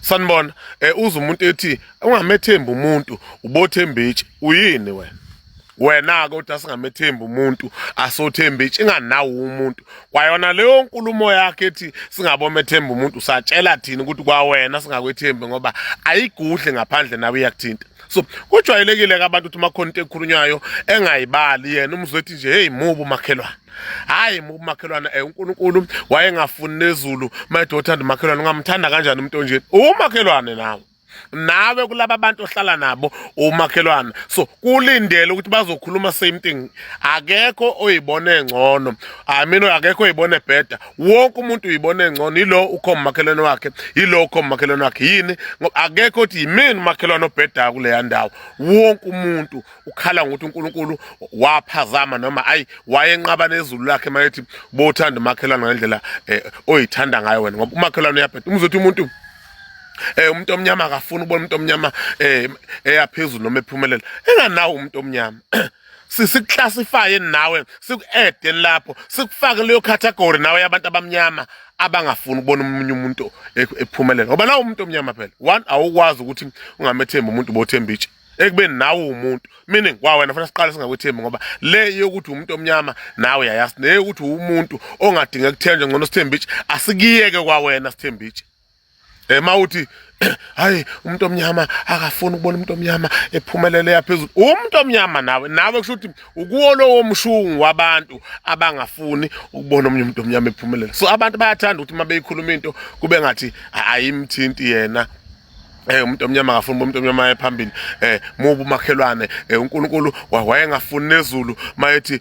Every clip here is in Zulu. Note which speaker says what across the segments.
Speaker 1: sanibona eh uza umuntu ethi ungamethembi umuntu ubothemba itshe uyini wena wena-ke uthi asingamethembi umuntu asothembi itshe inganawo umuntu kwayona leyo nkulumo yakhe ethi singabomethemba umuntu usatshela thina ukuthi kwawena singakwethembi ngoba ayigudle ngaphandle nawe iyakuthinta so kujwayelekile ke abantu ukuthi makhona into ekhulunywayo engayibali yena umzwethi nje hey mubi umakhelwane hayi mubi umakhelwane eh uNkulunkulu wayengafuni nezulu my daughter umakhelwane ungamthanda kanjani umuntu onje umakhelwane nawe nawe kulaba bantu ohlala nabo umakhelwana so kulindele ukuthi bazokhuluma same thing akekho oyibone ngcono amino akekho oyibone better wonke umuntu uyibona engcono yilo ukhomba umakhelwane wakhe yilo ukhomba umakhelwane wakhe yini ngoba akekho ukuthi yimini umakhelwane obhedayo kuleya ndawo wonke umuntu ukhala ngokuthi unkulunkulu waphazama noma ayi wayenqaba nezulu lakhe mayethi bothanda umakhelwane ngendlela eh, oyithanda ngayo wena ngoba umakhelwane uyabheda umuzothi umuntu eh umuntu omnyama akafuni ubona umuntu omnyama eh eyaphezulu noma ephumelela enganawo umuntu omnyama sisiclassifye nawe siku-ede lapho sikufake leyo category nawe yabantu abamnyama abangafuni ukubona omunye umuntu e-, ephumelela ngoba nawe umuntu omnyama phela one awukwazi ukuthi ungamethembi umuntu bothemba itshe ekubeni nawe umuntu meaning wa wena fanele siqale singakwethembi ngoba le yokuthi umuntu omnyama nawe yayazi neyokuthi umuntu ongadinga kuthenjwa ngcono sithemba itshe asikiyeke kwa wena sithemba itshe eh mawuthi hayi umuntu omnyama akafuni ukubona umuntu omnyama ephumelele yaphezulu umuntu omnyama nawe nawe kusho ukuthi ukuwo lowo mshungu wabantu abangafuni ukubona omunye umuntu omnyama ephumelele so abantu bayathanda ukuthi uma beyikhuluma into kube ngathi ayimthinti yena Eh umuntu omnyama akafuni umuntu omnyama ephambili eh mubu makhelwane eh uNkulunkulu wayengafuni nezulu mayethi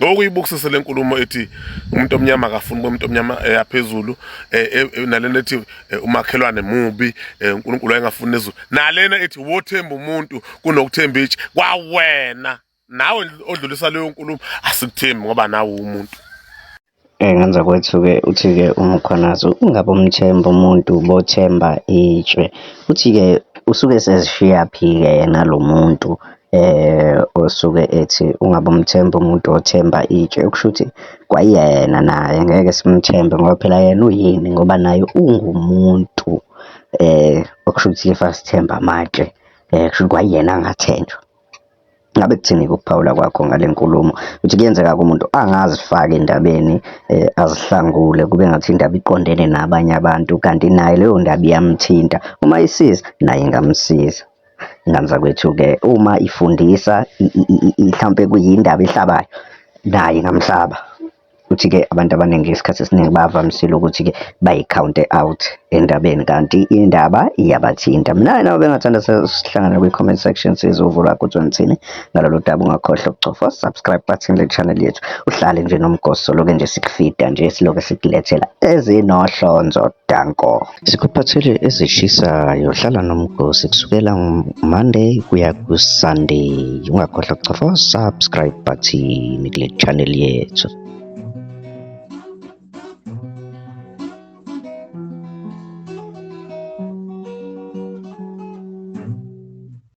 Speaker 1: okuyibukisise le nkulumo ethi umuntu omnyama akafuni umuntu omnyama eyaphezulu eh, eh, eh, nalena ethi umakhelwane mubi uNkulunkulu ayengafuni nezulu nalena ethi wothemba umuntu kunokuthemba ithi kwawena nawe odlulisa leyo nkulumo asikuthembi ngoba nawe umuntu Engenza
Speaker 2: kwethuke uthi-ke uMkhwanazi ukungabe umthemba umuntu bothemba itshe. Uthi-ke usuke esezishiyaphi-ke yena lo muntu osuke ethi ungabe umthemba umuntu othemba itshe. Okusho ukuthi kwayena naye ngeke simthembe ngoba phela yena uyini ngoba naye ungumuntu okusho ukuthi if asithembe amatshe kusho ukuthi kwayena angathenjwa. Ngabe kuthini-ke ukuphawula kwakho ngale nkulumo? Ukuthi kuyenzeka-ke umuntu angazifaki endabeni eh, azihlangule kube ngathi indaba iqondene nabanye abantu kanti naye leyo ndaba iyamthinta. Uma isiza naye ingamsiza. Ingane zakwethu-ke uma ifundisa mhlampe kuyindaba ehlabayo naye ingamhlaba. Futhi-ke abantu abaningi isikhathi esiningi bavamisile ukuthi-ke bayikhawunte out endabeni kanti indaba iyabathinta. Mina nawe bengathanda sihlangane kwi-comment section sizovula ukuthi ngithini ngalolu daba. Ungakhohlwa ukucofa subscribe button le channel yethu. Uhlale nje nomgosi soloke nje sikufida nje siloke sikulethela ezinohlonzo danko. Sikuphathele ezishisayo. Hlala nomgosi kusukela Monday kuya ku-Sunday. Ungakhohlwa kucofa subscribe button kule channel yethu.